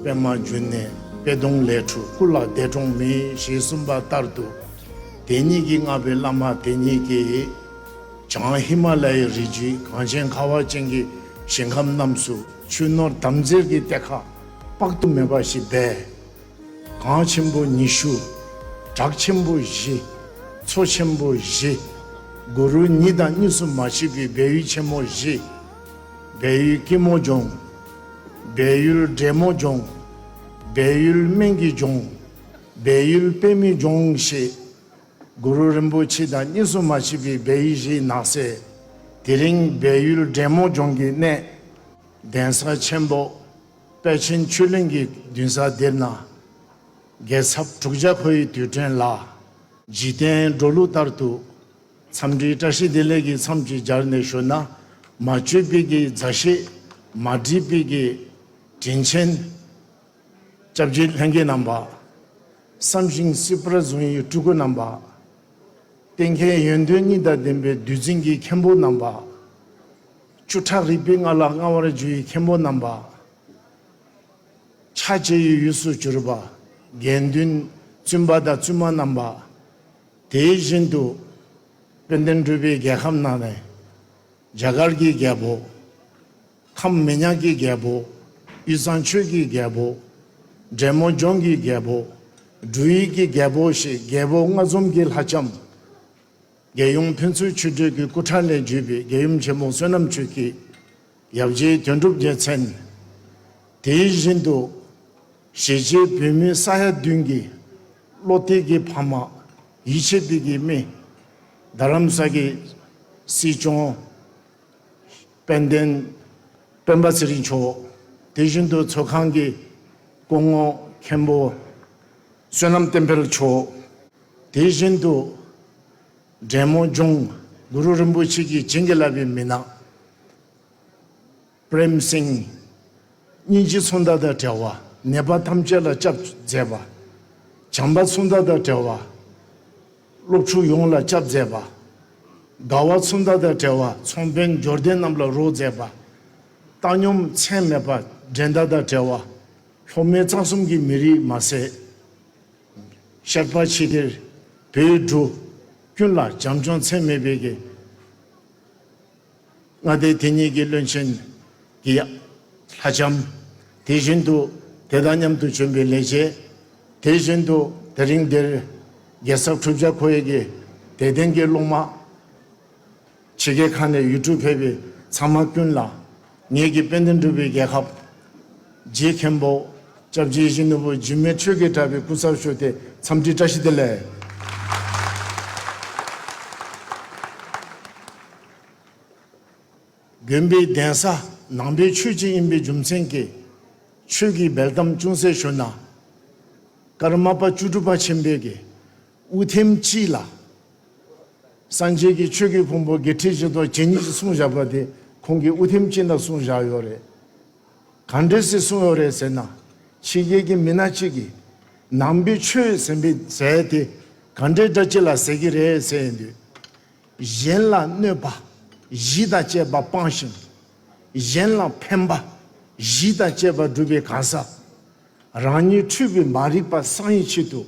པད་མ་བརྒྱུད་ནས་པད་སྡོང་ལས་བྷྲཱུྃ་སྐུ་ལ་བཟླས་གྲོང་མི་ཞེས་གསུངས་པ་ལྟར་དུ། དེ་ཉིད་ཀྱི་མངའ་བའི་བླ་མ་དེ་ཉིད་ཀྱིས། བྱང་ཧི་མ་ལ་ཡའི་རི་རྒྱུད་གངས་ཅན་ཁ་བ་ཅན་གྱི་ཞིང་ཁམས་རྣམས་སུ། ཆུ་ནོར་དམ་རྫས་ཀྱི་གཏེར་ཁ་དཔག་ཏུ་མེད་པ་ཞིག་སྦས། གངས་ཆེན་པོ་ཉི་ཤུ། བྲག་ཆེན་པོ་བཞི། མཚོ་ཆེན་པོ་བཞི། གུ་རུ་ཉི་དང་གཉིས་སུ་མ་མཆིས་པའི་སྦས་ཡུལ་ཆེན་མོ་བཞི། སྦས་ཡུལ་སྐྱིད་མོ་ལྗོངས། སྦས་ཡུལ་བགྲེས་མོ་ལྗོངས། སྦས་ཡུལ་སྨན་གྱི་ལྗོངས། སྦས་ཡུལ་དཔེ་མི་ལྗོངས་ཞེས། གུ་རུ་རིན་པོ་ཆེ་དང་གཉིས་སུ་མ་མཆིས་པའི་སྦས་ཡུལ་བཞིའི་ནགས་གསེ། དེ་རིང་སྦས་ཡུལ་བགྲེས་མོ་ལྗོངས་ཀྱི་གནས། གདན་ས་ཆེན་པོ། དཔལ་ཆེན་ཆོས་གླིང་གི་མདུན་ས་འདིར་ན། རྒྱལ་ཚབ་དྲུག་བརྒྱ་ཁོ་ཡི་དུས་དྲན་ལ། འཇིག་རྟེན་འགྲོ་ལུགས་ལྟར་དུ། འཚམས་འདྲིའི་བཀྲ་ཤིས་བདེ་ལེགས་ཀྱི་མཚམས་ཀྱིས་སྦྱར་ནས་ཞུ། ན་མ་བཅོས་པིག་གི་མཛའ་བཤེས། མ་བསྒྲིབས་པིག་གི་དྲིན་ཆེན། སྐྱབས་རྗེ་ལྷན་རྒྱས་རྣམ་པ། བསམ་ཤིང་སྲིད་པར་བཟུང་ཡི་སྤྲུལ་སྐུ་རྣམ་པ། བསྟན་མཁས་ཡོན་ཏན་གཉིས་དང་ལྡན་པའི་བདུད་རྩི་འགྱིག་མཁན་པོ་རྣམ་པ། བཅུ་ཕྲག་རིག་པའི་ལྔ་ལ་མངའ་བར་བརྒྱུད་ཡུལ་མཁན་པོ་རྣམ་པ། ཕྱག་བྱེད་ཡུལ་ཡུལ་སུ་གྱུར་པ། དགེ་འདུན་བཙུན་པ་དང་བཙུན་མ་རྣམ་པ། དེ་བཞིན་དུ། དཔལ་ལྡན་སྤྲུལ་པའི་རྒྱལ་ཁམས་ན་ནས། རྒྱ་གར་གྱི་རྒྱལ་པོ། ཁམས་མི་ཉག་གི་རྒྱལ་པོ། དབུས་གཙང་ཆོས་ཀྱི་རྒྱལ་པོ། འབྲས་མོ་ལྗོངས་ཀྱི་རྒྱལ་པོ། འབྲུ་ཡིག་གི་རྒྱལ་པོ་ཞེས་རྒྱལ་པོ་ལྔ་འཛོམས་ཀྱི་ལྷ་ལྕམ། རྒྱལ་ཡོངས་ཕན་ཚུན་མཆོད་བསྟོད་ཀྱི་སྐུ་ཕྲེང་ལས་བརྒྱུད་པའི་རྒྱལ་ཡུམ་ཆེན་མོ་བསོད་ནམས་ཆོས་ཀྱི་ཡབ་རྗེའི་དོན་གྲུབ་རྒྱལ་མཚན། དེ་བཞིན་དུ། གཞིས་བྱེས་བོད་མི་ས་ཡ་བདུན་གྱི་བློ་གཏད་ཀྱི་ཕ་མ། ཡིད་ཆེས་གཏད་ཀྱི་རྨི། རྡ་རམ་ས་ཀྱི་སྲིད་སྐྱོང། དཔལ་ལྡན་སྤེན་པ་ཚེ་རིང་མཆོག། དེ་བཞིན་དུ་ཚོགས་ཁང་གི་སྐུ་ངོ་མཁན་པོ། བསོད་ནམས་བསྟན་འཕེལ་མཆོག། དེ་བཞིན་དུ། དྲེད་མོང་ལྗོངས་གུ་རུ་རིན་པོ་ཆེ་གིས་བྱིན་གྱིས་བརླབས་པའི་མི་ནག། Prem Singh། སྙིང་རྗེ་ཚོང་མདའ་དང་བྲལ་བ་ནད་པ་ཐམས་ཅད་ལ་སྐྱབས་མཛད་པ། བྱམས་པ་ཚོང་མདའ་དང་བྲལ་བ་སློབ་ཕྲུག་ཡོངས་ལ་སྐྱབས་མཛད་པ། དགའ་བ་ཚོང་མདའ་དང་བྲལ་བ་ཚོང་དཔོན་འབྱོར་ལྡན་རྣམས་ལ་རོགས་མཛད་པ། བཏང་སྙོམས་མཚན་མེད་པ་འགྲན་ཟླ་དང་བྲལ་བ། ལྷོ་མོན་གཙང་གསུམ་གྱི་མི་རིགས་མ་ཟད། ཞགས་པ་ཆེ་གེར་བོད་འགྲོ། ཀུན་ལ་བྱམས་སྐྱོང་ཚད་མེད་སྤེལ། མཁས་མངའ་སྡེ་དེ་གཉིས་ཀྱི་བློན་ཆེན་གྱི་ལྷ་ལྕམ། དེ་བཞིན་དུ་དེ་དང་མཉམ་དུ་བྱོན་པའི་ལས་བྱེད། དེ་བཞིན་དུ་དེ་རིང་འདིར་རྒྱལ་ས་ཁྲུབ་བྱ་ཁོ་ཡེ་གི་དད་ལྡན་གྱི་སློབ་མ། ཕྱི་རྒྱལ་ཁག་ནས་ཡུལ་གྲུར་ཕེབས་པའི་ཚང་མ་ཀུན་ལ་ངེད་ཀྱི་དཔལ་ལྡན་གྲུབ་པའི་རྒྱལ་ཁབ། རྗེ་མཁན་པོ ྋསྐྱབས་རྗེ་གཞོན་ནུ་བོད་འཇིགས་མེད་ཆོས་ཀྱི་གྲགས་པའི་སྐུ་ཚབ་ཞུ་སྟེ་འཚམས་འདྲི་བཀྲ་ཤིས་བདེ་ལེགས། དགོན་པའི་གདན་ས་ནང་པའི་ཆོས་སྤྱི་ཡིན་པའི་རྒྱུ་མཚན་གྱིས། ཆོས་ཀྱི་འབེལ་གཏམ་ཅུང་ཟད་ཞུ་ན། ཀརྨ་པ་བཅུ་དྲུག་པ་ཆེན་པོའི་དགེ་དབུ་ཐེམ་སྤྱི་ལ། སངས་རྒྱས་ཀྱི་ཆོས་ཀྱི་ཕུང་པོ་བརྒྱད་ཁྲི་བཞི་སྟོང་ཇི་སྙེད་ཅིག་གསུངས་བཞག་པ་དེ་ཁོང་གིས་དབུ་ཐེམ་སྤྱི་ན་གསུངས་བཞག་ཡོད་རེད། གང་འདྲའི་སྲིད་གསུངས་ཡོད་རེད་ཟེར་ན། ཕྱི་རྒྱལ་གྱི་མི་སྣ་གཅིག་གིས། ནང་པའི་ཆོས་ཟེར་པའི་ཟས་དེ་གང་འདྲའི་སྒྲ་ཅི་ལ་ཟེར་གྱི་རེད་ཟེར་ཡོད་དུས། གཞན་ལ་གནོད་པ་བཞི་དང་བཅས་པ་སྤངས་ཤིང། གཞན་ལ་ཕན་པ་བཞི་དང་བཅས་པ་བསྒྲུབས་པའི་གང་ཟག། རང་ཉིད་འཁྲུལ་པའི་མ་རིག་པ་སངས་ཡེ་ཆེད་དུ།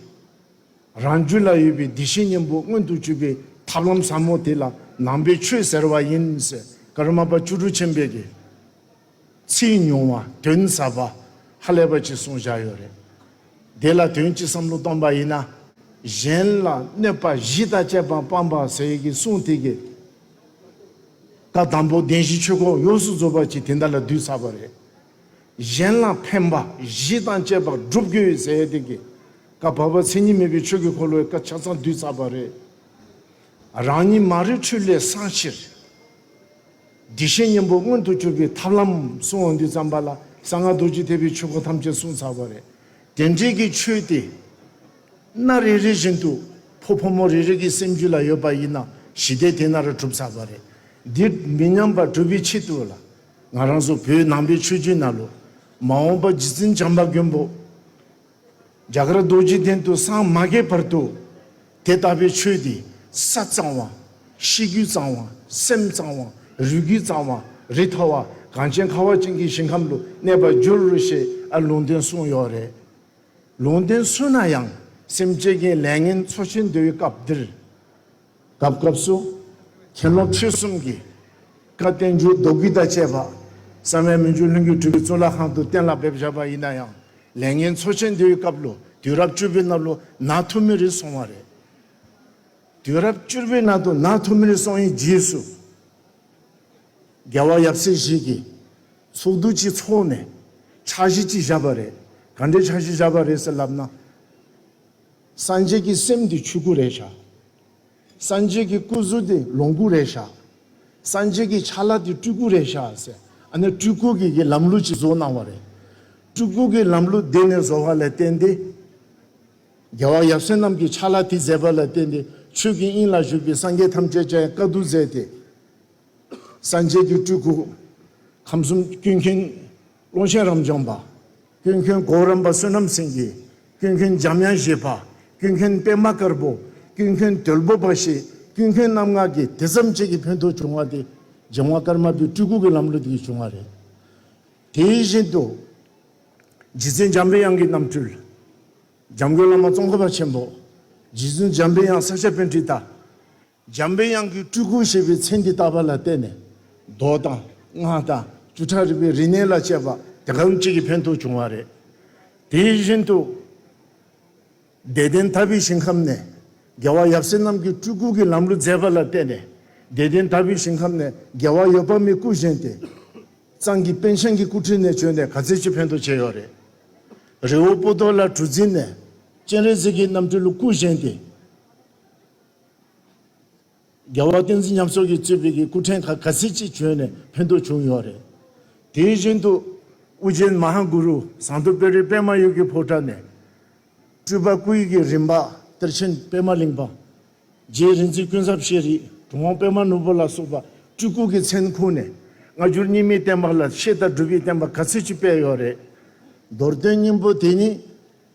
རང་རྒྱུད་ལ་ཡོད་པའི་བདེ་གཤེགས་སྙིང་པོ་མངོན་དུ་བཅུད་པའི་ཐབས་ལམ་ཟབ་མོ་དེ་ལ་ནང་པའི་ཆོས་ཟེར་བ་ཡིན། ཀརྨ་པ་བཅུ་དྲུག་ཆེན་པོས་ཀྱི། ཚིག་ཉུང་བ་དོན་ཟབ་པ་ཧ་ལས་པ་གཅིག་གསུངས་བཞག་ཡོད་རེད། དེ་ལ་དོན་གཅིག་བསམ་བློ་གཏོང་པ་ཡིན་ན། གཞན་ལ་གནོད་པ་བཞི་དང་བཅས་པ་སྤངས་པ་ཟེར་གྱི་གསུངས་དེ་གི། ད་དང་པོ་བདེན་བཞི་ཆོས་ཁོག་ཡོངས་སུ་རྫོགས་པ་གཅིག་དེ་འདྲ་ལ་བསྡུས་ཚར་བ་རེད། གཞན་ལ་ཕན་པ་བཞི་དང་བཅས་པ་བསྒྲུབ་དགོས་ཡོད་ཟེར་ཡས་དེ་གའི་བཀའ་བབས་པ་མཚན་ཉིད་མེད་པའི་ཆོས་ཀྱི་འཁོར་ལོའི་བཀའ་ཆ་ཚང་བསྡུས་ཚར་བ་རེད། རང་ཉིད་མ་རིག་འཁྲུལ་ལས་སངས་ཕྱིར། བདེ་གཤེགས་སྙིང་པོ་མངོན་དུ་གྱུར་པའི་ཐབས་ལམ་གསུང་བ་འདི་བརྩམས་པ་ལ་གསང་སྔགས་རྡོ་རྗེ་ཐེག་པའི་ཆོས་སྐོར་ཐམས་ཅད་གསུངས་ཚར་བ་རེད། དེ་འབྲེལ་གྱི་ཆོས་དེ་སྣ་རེ་རེ་བཞིན་དུ་ཕོ་ཕོ་མོ་རེ་རེ་གྱི་སེམས་རྒྱུད་ལ་ཡོད་པ་ཡིན་ན་ཞི་བདེ་དེ་ན་རུ་གྲུབ་ཚར་བ་རེད། འདིར་མི་ཉམས་པར་སྒྲུབ་པའི་ཆེད་དུ་ལ་ང་རང་ཚོ་བོད་ནང་པའི་ཆོས་བརྒྱུད་ནང་ལོ་མ་འོངས་པ་རྗེ་བཙུན་བྱམས་པ་མགོན་པོ་རྒྱ་གར་རྡོ་རྗེ་གདན་དུ་སངས་མ་རྒྱས་བར་དུ་དེ་ལྟ་བུའི་ཆོས་དེ་ས་གཙང་བ། གཤིས་རྒྱུད་གཙང་བ། སེམས་གཙང་བ། རུས་རྒྱུད་གཙང་བ། རི་ཐ་བ་གངས་ཅན་ཁ་བ་ཅན་གྱི་ཞིང་ཁམས་སུ་གནས་པར་འགྱུར་ཞེས་ཨ་ལུང་བསྟན་གསུངས་ཡོད་རེད། ལུང་བསྟན་སུན་ན་ཡང་སེམས་བསྐྱེད་ཀྱི་ལས་ངན་འཚོ་བྱེད་འདོད་ཡོད་སྐབས་འདིར། སྐབས་སྐབས་སུ་ཁྱད་ལོངས་ཁྲིད་གསུམ་གྱི་བཀའ་བསྟན་འགྱུར་ལྡོག་རྒྱུད་དང་བཅས་པ་གསང་བའི་མི་འགྱུར་ལྷུན་གྱིས་གྲུབ་པའི་གཙུག་ལག་ཁང་དུ་གཏན་ལ་འབེབས་བཞག་པ་ཡིན་ན་ཡང་ལས་ངན་འཚོ་ཆེན་དེའི་སྐབས་ལོ་དུས་རབས་བཅུ་པའི་ནང་ལོ་ན་ཐུ་མི་རི་སོང་བ་རེད། དུས་རབས་བཅུར་པའི་ནང་དུ་ན་ཐུ་མི་རི་སོང་ཡི་རྗེས་སུ་རྒྱལ་བ་ཡབ་སྲས་ཞིག་གིས་ཚོགས་འདུ་གཅིག་འཚོགས་ནས་འཆར་གཞི་གཅིག་བཞག་པ་རེད། ག་འདྲའི་འཆར་གཞི་བཞག་པ་རེད་ཟེར་ལབ་ན། སངས་རྒྱས་ཀྱི་སེམས་འདི་ཆོས་སྐུ་རེད་བཞག། སངས་རྒྱས་ཀྱི་སྐུ་གཟུགས་འདི་ལོངས་སྐུ་རེད་བཞག། སངས་རྒྱས་ཀྱི་ཆ་ལག་འདི་སྤྲུལ་སྐུ་རེད་བཞག་ཟེར། ཨ་ནི་སྤྲུལ་སྐུ་གི་གི་ལམ་ལུགས་ཀྱིས་བཟོ་གནང་བ་རེད། སྤྲུལ་སྐུ་གི་ལམ་ལུགས་འདི་ནི་བཟོ་བ་ལས་བརྟེན་ཏེ། རྒྱལ་བ་ཡབ་སྲས་རྣམས་ཀྱི་ཆ་ལག་དེ་མཛད་པ་ལ་བརྟེན་ཏེ་ཆོས་ཀྱི་དབྱིངས་ལ་བཞུགས་པའི་སངས་རྒྱས་ཐམས་ཅད་ཀྱང་བཀའ་བསྡུ་མཛད་དེ། སངས་རྒྱས་ཀྱི་སྤྲུལ་སྐུ། ཁམས་གསུམ་སྐྱོད་མཁན། ཀློང་ཆེན་རབ་འབྱམས་པ། ཀུན་མཁྱེན་གོ་རམས་པ་བསོད་ནམས་སེང་གེ། ཀུན་མཁྱེན་འཇམ་དབྱངས་བཞད་པ། ཀུན་མཁྱེན་པད་མ་དཀར་པོ། ཀུན་མཁྱེན་དོལ་པོ་པ་ཞེས་ཀུན་མཁྱེན་རྣམ་ལྔ་གི་དེ་མཚམས་གཅིག་གི་བོན་ཐོག་བྱུང་བ་དེ་འཇམ་དབྱངས་དཀར་དམར་པོའི་སྤྲུལ་སྐུ་གི་ལམ་ལུགས་དེ་ཡིས་བྱུང་བ་རེད། དེ་བཞིན་དུ། རྗེ་བཙུན་འཇམ་པའི་དབྱངས་ཀྱི་རྣམ་སྤྲུལ། འཇམ་མགོན་བླ་མ་ཙོང་ཁ་པ་ཆེན་པོ། རྗེ་བཙུན་འཇམ་པའི་དབྱངས་ས་སྐྱ་བོན་ཁྲི་ལྟ། འཇམ་པའི་དབྱངས་ཀྱི་སྤྲུལ་སྐུར་བཞེད་པའི་མཚན་འདི་ལྟ་བ་ལ་བརྟེན་ནས་མདོ་དང་སྔགས་དང་བཅུ་ཕྲག་རིག་པའི་རིག་གནས་ལ་དཔྱད་པ་དེ་གང་བྱེད་ཀྱི་ཕན་ཐོགས་བྱུང་བ་རེད། དེ་བཞིན་དུ། བདེ་ལྡན་དམ་པའི་ཞིང་ཁམས་ནས་རྒྱལ་བ་ཡབ་སྲས་རྣམས་ཀྱི་སྤྲུལ་སྐུ་གྱི་ལམ་རུ་མཛད་པ་ལ་བརྟེན་ནས་བདེ་ལྡན་དམ་པའི་ཞིང་ཁམས་ནས་རྒྱལ་བ་ཡོད་པ་མའི་སྐུ་བཞེངས་ཏེ། གཙང་གི་པན་ཤང་གི་སྐུ་ཕྲེང་ནས་བྱོན་ནས་ག་ཚད་ཅིག་ཕན་ཐོགས་བྱས་ཡོད་རེད། རི་བོ་སྤོ་ཏོ་ལ་གྲུ་འཛིན་ནས་སྤྱན་རས་གཟིགས་ཀྱི་རྣམ་སྤྲུལ་སྐུ་བཞེངས་ཏེ། རྒྱལ་བ་བསྟན་འཛིན་ཉམས་སོགས་ཀྱི་གཙོས་བོད་ཀྱི་སྐུ་ཕྲེང་ཁག་ག་ཚིལ་གཅིག་བྱོན་ནས་ཕན་ཐོགས་བྱུང་ཡོད་རེད། དེ་བཞིན་དུ་ཨུ་རྒྱན་མ་ཧཱ་གུ་རུ་ཟངས་མདོ་དཔལ་རིའི་པདྨ་གཡུ་གི་ཕོ་བྲང་ནས། སྤྲུལ་པ་སྐུ་ཡི་གེ་རིམ་པ་གཏེར་ཆེན་པདྨ་གླིང་པ། རྗེ་རིག་འཛིན་ཀུན་བཟང་ཤེས་རིག་གྲུབ་དབང་པདྨ་ནོར་བུ་ལ་སོགས་པ་སྤྲུལ་སྐུ་གི་མཚན་ཁུངས་ནས་སྔ་འགྱུར་རྙིང་མའི་བསྟན་པ་ལ་ཆེས་ལྟ་གྲུབ་ཀྱི་བསྟན་པ་ག་ཚིལ་གཅིག་སྤེལ་ཡོད་རེད། མདོར་དོན་སྙིང་པོ་དེ་ཉིད།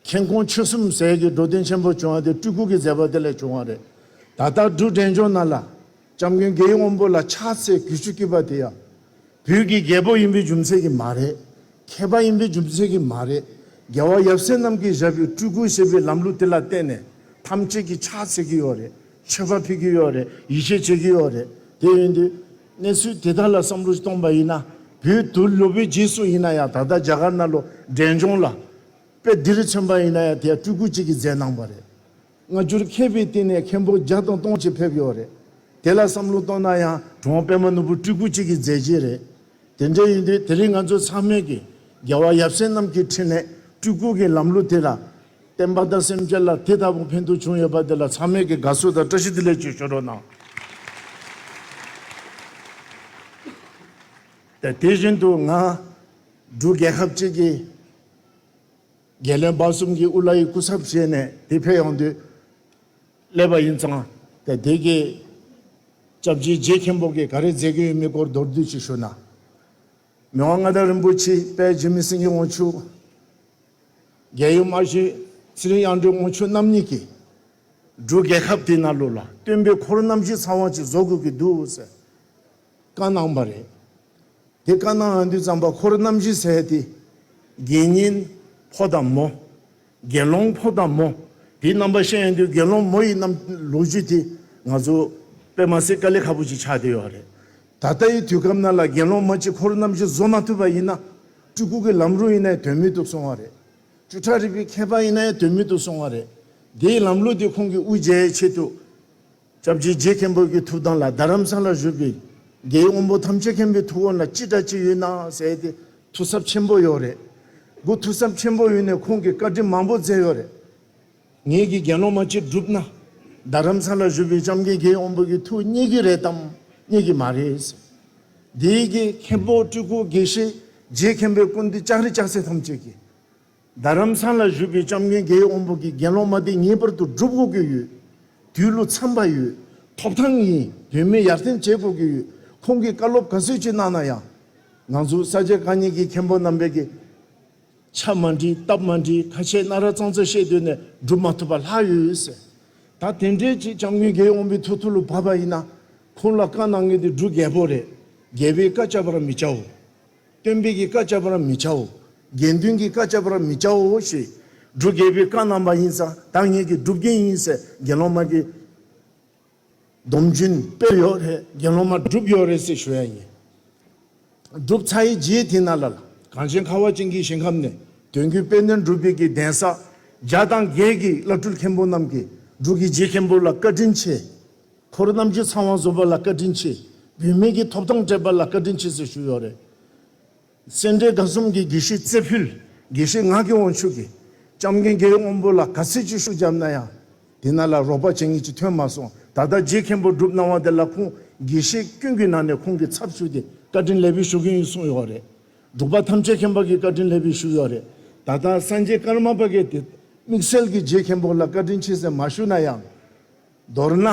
མཁྱེན་ཀོང་ཆོས་གསུམ་ཟས་ཀྱི་འགྲོ་དོན་ཆེན་པོ་བྱུང་བ་དེ་སྤྲུལ་སྐུ་གི་མཛད་པ་དེ་ལས་བྱུང་བ་རེད། ད་ལྟ་འབྲུག་འབྲས་ལྗོངས་ནང་ལ། ལྕམ་མགོན་དགེ་ཡེ་དབོན་པོ་ལ་ཕྱག་འཚལ་གུས་ཞུ་བགྱིས་པ་དེ་ཡང། བོད་ཀྱི་རྒྱལ་པོ་ཡིན་པའི་རྒྱུ་མཚན་གྱིས་མ་རེད། མཁས་པ་ཡིན་པའི་རྒྱུ་མཚན་གྱིས་མ་རེད། རྒྱལ་བ་ཡབ་སྲས་རྣམས་ཀྱིས་བཞག་པའི་སྤྲུལ་སྐུ་ཞེས་པའི་ལམ་ལུགས་དེ་ལ་བརྟེན་ནས་ཐམས་ཅད་ཀྱིས་ཕྱག་འཚལ་གྱི་ཡོད་རེད། མཆོད་པ་ཕུལ་གྱི་ཡོད་རེད་ཡིད་ཆེས་བྱེད་ཀྱི་ཡོད་རེད། དེ་ཡིན་དུས། གནས་ཚུལ་དེ་དག་ལ་བསམ་བློ་གཏོང་པ་ཡིན་ན། བོད་དུ་ལོ་པའི་རྗེས་སུ་ཡིན་ན་ཡང་ད་ལྟ་རྒྱ་གར་ནང་ལོ་འབྲས་ལྗོངས་ལ། དཔེ་འདི་རིགས་མཚོན་པ་ཡིན་ན་ཡང་དེ་ཡང་སྤྲུལ་སྐུ་གཅིག་གིས་མཛད་གནང་བ་རེད། སྔ་འགྱུར་མཁས་པའི་སྟེང་ནས་མཁན་པོ་བརྒྱ་དང་སྟོང་ཅིག་ཕེབས་ཡོད་རེད། དེ་ལ་བསམ་བློ་གཏོང་ན་ཡང་གྲོང་དཔོན་པ་ནོར་བུ་སྤྲུལ་སྐུ་གཅིག་གིས་མཛད་ཀྱི་རེད། དེ་འདྲ་ཡིན་དུས་དེ་རིང་ང་ཚོ་ཚང་མས་ཀྱིས་རྒྱལ་བ་ཡབ་སྲས་རྣམས་ཀྱི་འཕྲིན་ལས་སྤྲུལ་སྐུ་གི་ལམ་ལུགས་དེ་ལ་བརྟེན་པ་དང་སེམས་ཅན་ལ་དེ་ལྟ་བུ་ཕན་ཐོགས་བྱུང་ཡོད་པ་དེ་ལ་ཚང་མས་ཀྱིས་དགའ་བསུ་དང་བཀྲ་ཤིས་བདེ་ལེགས་བཅས་ཞུ་རོགས་གནང། དེ་བཞིན་དུ་ང་འབྲུག་རྒྱལ་ཁབ་ཅིག་གི་རྒྱལ་བློན་འབའ་གསུམ་གྱིས་དབུ་བླ་ཡི་སྐུ་ཚབ་བྱས་ནས་དེ་ཕེབས་ཡོང་དུས་སླེབས་པ་ཡིན་ཙང། དེ་དུས་ཀྱི་སྐྱབས་རྗེ་རྗེ་མཁན་པོ་གིས་ག་རེ་མཛད་ཀྱི་ཡོད་མེད་སྐོར་མདོར་བསྡུས་ཅིག་ཞུ་ན། མི་དབང་མངའ་བདག་རིན་པོ་ཆེའི་དཔལ་རྗེ་མི་སེང་གེ་དབང་ཕྱུག། རྒྱལ་ཡུམ་དམར་ཞིང་ཚེ་རིང་དབྱངས་སྒྲོན་དབང་ཕྱུག་རྣམ་གཉིས་ཀྱིས། འབྲུག་རྒྱལ་ཁབ་དེའི་གནའ་ལུགས་ལ་བསྟུན་པའི་འཁོར་རྣམ་བཞིའི་ཚངས་དབང་ཅིག་བཟོ་དགོས་ཀྱི་འདུག་ཟེར། བཀའ་གནང་བ་རེད། དེ་བཀའ་གནང་ཡོང་དུས་ཙམ་པ་ཁོར་རྣམ་བཞི་ཟེར་ཡོད་དེ། དགེ་བསྙེན་ཕོ་དང་མོ། དགེ་སློང་ཕོ་དང་མོ། དེའི་རྣམ་པ་བཤད་ཡོང་དུས་དགེ་སློང་མོ་ཡི་རྣམ་ལོ་རྒྱུས་དེ་ང་ཚོ་པད་མ་སེར་དཀར་ལས་ཁ་པོ་ཅིག་ཆགས་བསྡད་ཡོད་རེད། ད་ལྟ་ཡི་དུས་སྐབས་ན་ལ་དགེ་སློང་མ་གཅིག་ཁོར་རྣམ་བཞི་བཟོ་མ་ཐུབ་པ་ཡིན་ན། སྤྲུལ་སྐུ་གི་ལམ་རུང་ཡིན་ནའི་དོན་མེད་དུ་སོང་བ་རེད། སྤྲུལ་གྲགས་རིག་པའི་མཁས་པ་ཡིན་ནའི་དོན་མེད་དུ་སོང་བ་རེད། དེའི་ལམ་ལུགས་དེ་ཁོང་གི་དབུ་འབྱེད་ཆེད་དུ། སྐྱབས་རྗེ་རྗེ་མཁན་པོ་གི་ཐུགས་དམ་ལ་རྡ་རམ་ས་ལར་བཞུགས་པའི་རྒྱའི་དབོན་པོ་ཐམས་ཅད་མཁན་པོའི་ཐུགས་དབང་ལ་ཅི་དྲག་ཅི་ཡོད་གནང་ཟེར་ཏེ་ཐུགས་གཟབ་ཆེན་པོ་ཡོད་རེད། སྒོ་ཐུགས་གཟབ་ཆེན་པོ་ཡོད་ནས་ཁོང་གིས་བཀའ་དྲིན་མང་པོ་མཛད་ཡོད་རེད། ངེད་ཀྱི་དགེ་སློང་མ་གཅིག་བསྒྲུབས་ན། རྡ་རམ་ས་ལར་བཞུགས་པའི་ལྕམ་སྐྱེས་རྒྱའི་དབོན་པོ་གི་ཐུགས་རྙེད་ཀྱི་རེད་དམ་རྙེད་ཀྱི་མ་རེད་ཟེར། དེའི་རྗེས་མཁན་པོ་སྤྲུལ་སྐུ་དགེ་བཤེས་རྗེ་མཁན་པོའི་སྐུ་འདི་ལྕགས་རི་ལྕགས་སྲེག་ཐམས་ཅད་ཀྱིས། རྡ་རམ་ས་ལར་བཞུགས་པའི་ལྕམ་མགོན་དགེ་ཡོ་དབོན་པོ་གིས་དགེ་སློང་མ་དེ་ངེས་པར་དུ་སྒྲུབ་དགོས་ཀྱི་ཡོད། དུས་ལོ་མཚམས་པ་ཡོད། ཐོབ་ཐང་ཡིན། དོན་མེད་ཡར་འཐེན་བྱེད་དགོས་ཀྱི་ཡོད། ཁོང་གིས་བཀའ་སློབ་ག་ཚོད་ཅིག་གནང་ན་ཡང། ང་ཚོ་ས་སྐྱ་རྐང་གཉིས་ཀྱི་མཁན་པོ་རྣམ་པས་ཀྱིས། ཕྱག་མ་འདྲིས་སྟབས་མ་འདྲིས་ཁ་ཆད་སྣ་ར་གཙང་ཚ་ཤེས་འདོད་ནས་སྒྲུབ་མ་ཐུབ་པ་ལྷག་ཡོད་ཟེར། ད་དེ་འདྲའི་ཅིག་ལྕམ་མགོན་དགེ་ཡོ་དབོན་པོའི་ཐུགས་ཐུ་ལུ་བབས་པ་ཡིན་ན། ཁོང་ལ་བཀའ་གནང་ངེས་ཏེ་སྒྲུབ་རྒྱལ་པོ་རེད། རྒྱལ་པོའི་བཀའ་བཅག་པར་མི་བྱའོ། སྟོན་པས་ཀྱི་བཀའ་བཅག་པར་མི་བྱའོ། དགེ་འདུན་གྱི་བཀའ་བཅག་པར་མི་བྱའོ་ཞེས། སྒྲུབ་དགེ་བའི་བཀའ་གནང་བ་ཡིན་ཙང་བདག་ཉིད་ཀྱི་སྒྲུབ་རྒྱུན་ཡིན་ཟེར་དགེ་སློང་མ་གིས། སྡོམ་རྒྱུན་སྤེལ་ཡོད་རེད་དགེ་སློང་མ་སྒྲུབ་ཡོད་རེད་ཟེར་ཞུ་ཡ་ཡིན། སྒྲུབ་ཚར་ཡི་རྗེས་དེ་ན་ལ་ལ་གངས་ཅན་ཁ་བ་ཅན་གྱི་ཞིང་ཁམས་ནས་དོན་རྒྱུན་སྤེལ་དོན་སྒྲུབ་དགེ་གི་གདན་ས་བརྒྱ་དང་བརྒྱད་ཀྱི་བླ་སྤྲུལ་མཁན་པོ་རྣམས་ཀྱིས་སྒྲུབ་ཀྱི་རྗེས་མཁན་པོ་ལ་བཀའ་དྲིན་ཆེ། འཁོར་རྣམས་ཀྱི་ཚང་བ་བཟོ་བ་ལ་བཀའ་དྲིན་ཆེ། བུད་མེད་ཀྱི་ཐོབ་ཐང་སྤྲད་པ་ལ་བཀའ་དྲིན་ཆེ་ཟེར་ཞུ་ཡོད་རེད། སེ་འབྲས་དགའ་གསུམ་གྱི་དགེ་བཤེས་རྩེ་ཕུལ་དགེ་བཤེས་ངག་གི་དབང་ཕྱུག་གིས་ལྕམ་རྒན་རྒྱལ་དབང་པོ་ལ་ག་ཚོད་ཅིག་ཤུགས་བརྒྱབ་ན་ཡང་དེ་ན་ལ་རོགས་པ་བྱེད་མཁན་ཅིག་ཐོན་མ་སོང་ད་ལྟ་རྗེ་མཁན་པོ་སྒྲུབ་གནང་བ་དེ་ལ་ཁོང་དགེ་བཤེས་ཀུན་གྱི་ནང་ནས་ཁོང་གི་ཚབ་ཞུས་ཏེ་བཀའ་དྲིན་ལེགས་འབུལ་ཞུ་གིན་ཡོད་གསུངས་ཡོད་རེད། སྒྲུབ་པ་ཐམས་ཅད་མཁན་པ་གིས་བཀའ་དྲིན་ལེགས་འབུལ་ཞུས་ཡོད་རེད། ད་ལྟ་སངས་རྒྱས་ཀརྨ་པ་ཀའི་དེ་དམིགས་བསལ་གྱིས་རྗེ་མཁན་པོ་ལ་བཀའ་དྲིན་ཆེ་ཟེར་མ་ཞུས་ན་ཡང། མདོར་ན།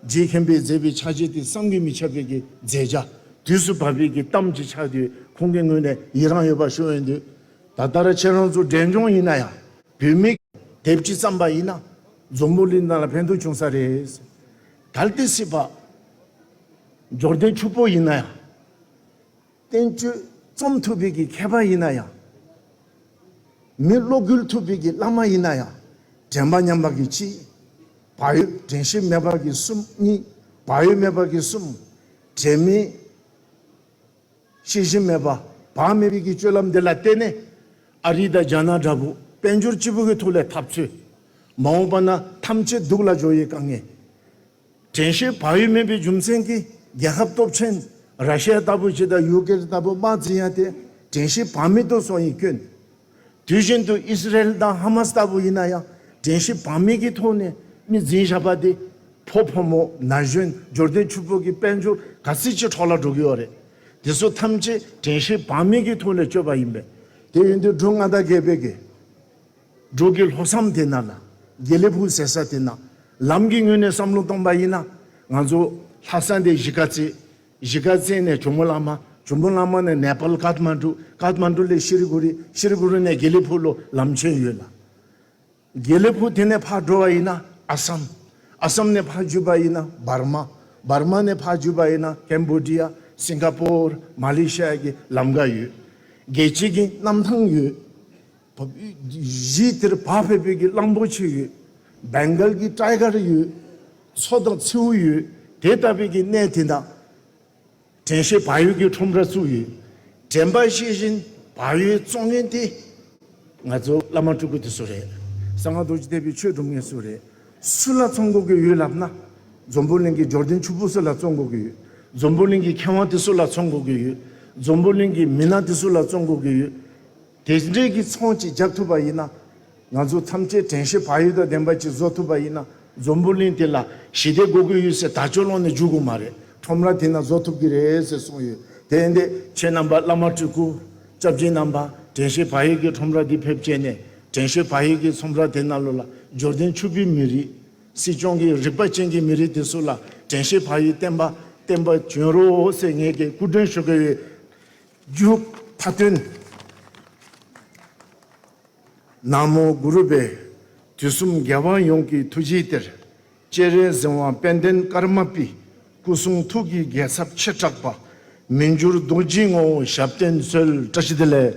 རྗེ་མཁན་པོས་མཛད་པའི་ཕྱག་རྗེས་དེ་བསམ་གྱིས་མི་ཁྱབ་པའི་གི་མཛད་བྱ། དུས་སུ་བབ་པའི་གི་གཏམ་གྱི་ཕྱག་དེ་ཁོང་གི་ངོས་ནས་ཡི་རངས་ཡོད་པ་ཞུ་འོས་འདུག་ད་ལྟར་ཁྱེད་རང་ཚོ་འབྲས་ལྗོངས་ཡིན་ན་ཡང་བུད་མེད་དེབ་ཅིག་བརྩམས་པ་ཡིན་ན་འཛོམས་པོ་ལི་ནང་ལ་ཕན་ཐོག་བྱུང་ས་རེད། གལ་ཏེ་སྲིད་པ། འབྱོར་ལྡན་ཕྱུག་པོ་ཡིན་ན་ཡང། བསྟན་བཅོས་རྩོམ་ཐུབ་པའི་གི་མཁས་པ་ཡིན་ན་ཡང། མི་བློ་འགུལ་ཐུབ་པའི་གི་བླ་མ་ཡིན་ན་ཡང་དྲན་པ་ཉམས་པ་གི་གཅིག། བག་ཡོད་དྲན་ཤེས་མེད་པ་གི་གསུམ་གཉིས། བག་ཡོད་མེད་པ་གི་གསུམ། དྲན་མེད། ཤེས་བཞིན་མེད་པ་བག་མེད་པའི་གི་སྤྱོད་ལམ་འདི་ལ་བརྟེན་ནས། ཨ་རི་དང་རྒྱ་ནག་འདྲ་པོ་དཔལ་འབྱོར་སྤྱི་བོ་གི་ཐུགས་ལས་ཐབས་འཚོལ། མ་འོངས་པ་ན་ཐམས་ཅད་སྡུག་ལ་སྦྱོར་ཡི་ག་ངེས། དྲན་ཤེས་བག་ཡོད་མིན་པའི་རྒྱུ་མཚན་གྱིས་རྒྱལ་ཁབ་སྟོབས་ཆེན་ར་ཤི་ཡ་ལྟ་བུ་ཞིག་དང་ཡུག་ཀེ་རི་ལྟ་བུ་དམག་འཛིན་ཡ་དེ་དྲན་ཤེས་བག་མེད་དུ་སོང་ཡིན་སྐྱོན། དུས་བཞིན་དུ་ཨིསི་རལ་དང་ཧ་མ་སི་ལྟ་བུ་ཡིན་ན་ཡང་དྲན་ཤེས་བག་མེད་ཀྱི་ཐོག་ནས་མི་འཛིན་བཞག་པ་དེ་ཕོ་ཕོ་མོ་ན་གཞོན་འབྱོར་ལྡན་ཕྱུག་པོ་གི་དཔལ་འབྱོར་ག་ཚིལ་གྱི་འཕྲོག་ལ་འགྲོ་གི་ཡོད་རེད། དེ་ཚོ་ཐམས་ཅད་དྲན་ཤེས་བག་མེད་ཀྱི་ཐོག་ནས་བསྐྱོད་པ་ཡིན་པས། དེ་ཡིན་དུས་སྒྲུང་མངའ་བདག་དགེ་བེད་ཀྱིས། འབྲུག་གི་ལྷོ་བསམ་དེ་ན་ལ་རྒྱལ་ལེ་བུ་ཟེར་ས་དེ་ན་ལམ་གྱི་ངོས་ནས་བསམ་བློ་གཏོང་པ་ཡིན་ན་ང་ཚོ་ལྷ་ས་འདི་གཞིས་ཀ་རྩེ། གཞིས་ཀ་རྩེ་ནས་ཇོ་མོ་བླ་མ། ཇོ་མོ་བླ་མ་ནས་ནེ་པལ་ཀཱ་ཐ་མ་ཀྲུ། ཀཱ་ཐ་མ་ཀྲུ་ལས་ཤི་རི་གུ་རི། ཤི་རི་གུ་རི་ནས་རྒྱལ་ལེ་བུ་ལོ་ལམ་ཆེན་ཡོད་ལ། རྒྱལ་ལེ་བུ་དེ་ནས་ཕར་འགྲོ་བ་ཡིན་ན་ཨ་སམ། ཨ་སམ་ནས་ཕར་འཇུས་པ་ཡིན་ན་འབར་མ། འབར་མ་ནས་ཕར་འཇུས་པ་ཡིན་ན་ཀན་པོ་ཏི་ཡ། སིང་ག་པོར། མ་ལེ་ཤི་ཡ་ཀྱི་ལམ་འགའ་ཡོད། རྒྱལ་སྤྱི་གི་གནམ་ཐང་ཡོད། བོད་གཞིས་དེར་བག་ཕེབས་པོད་ཀྱི་གླང་པོ་ཆེ་ཡོད། Bengal གྱི Tiger ཡོད། མཚོ་དང་མཚེའུ་ཡོད། དེ་ལྟ་བུད་ཀྱི་གནས་དེ་ན། དྲན་ཤེས་བག་ཡོད་ཀྱི་ཁྲོམ་ར་བཙུགས་ཡོད། དྲན་པ་ཤེས་བཞིན་བག་ཡོད་བཙོང་མཁན་དེ། ང་ཚོ་བླ་མ་སྤྲུལ་སྐུ་དེ་སུ་རེད། གསང་སྔགས་རྡོ་རྗེ་གཏད་པའི་ཆོས་སྒྲུབ་མཁན་སུ་རེད། སུ་ལ་བཙོང་དགོས་ཀྱི་ཡོད་ལབ་ན། འཛོམས་པོ་གླིང་གི་འབྱོར་ལྡན་ཕྱུག་པོ་སུ་ལ་བཙོང་དགོས་ཀྱི་ཡོད། འཛོམས་པོ་གླིང་གི་མཁས་དབང་དེ་སུ་ལ་བཙོང་དགོས་ཀྱི་ཡོད། འཛོམས་པོ་གླིང་གི་མི་སྣ་དེ་སུ་ལ་བཙོང་དགོས་ཀྱི་ཡོད། དེ་འདྲའི་གི་ཚོང་ཅིག་བརྒྱབ་ཐུབ་པ་ཡིན་ན། ང་ཚོ་ཐམས་ཅད་དྲན་ཤེས་བག་ཡོད་དང་ལྡན་པ་ཅིག་བཟོ་ཐུབ་པ་ཡིན་ན། འཛོམས་པོ་གླིང་དེ་ལ་ཞི་བདེ་སྒོ་དགུའི་གཡུལ་སའི་དར་ལྕོག་ལོང་ནས་འཇུག་དགོས་མ་རེད། ཁྲོམ་ར་དེ་ན་བཟོ་ཐུབ་ཀྱི་རེད་ཟེར་གསུངས་ཡོད་དེ་འདི། ཁྱེད་རྣམ་པ་བླ་མ་སྤྲུལ་སྐུ། སྐྱབས་སྦྱིན་རྣམ་པ་དྲན་ཤེས་བག་ཡོད་ཀྱི་ཁྲོམ་ར་འདི་ཕེབས་སྤྱད་ནས་དྲན་ཤེས་བག་ཡོད་ཀྱི་ཚོམས་ར་དེ་ན་ལོ་ལ་འབྱོར་ལྡན་ཕྱུག་པོའི་མི་རིགས། སྲིད་སྐྱོང་གི་རིག་པ་ཅན་གྱི་མི་རིགས་དེ་ཚོ་ལ་དྲན་ཤེས་བག་ཡོད་བསྟན་པ་བསྟན་པ་བྱོན་རོགས་ཟེར་ངས་ཀྱི་སྐུ་མགྲོན་ཞུ་གི་ཡོད། རྒྱུད་མཐའ་སྟོན། ནག་མོ་གུ་རུ་པའི་དུས་གསུམ་རྒྱལ་དབང་ཡོངས་ཀྱི་ཐུགས་རྗེའི་གཏེར། སྤྱན་རས་གཟིགས་དབང་དཔལ་ལྡན་ཀརྨ་པའི་སྐུ་གསུང་ཐུགས་ཀྱི་རྒྱལ་ཚབ་ཆེ་དྲག་པ། མི་འགྱུར་རྡོ་རྗེའི་ངོ་བོ་ཞབས་བརྟན་གསོལ་བཀྲ་ཤིས་བདེ་ལེགས།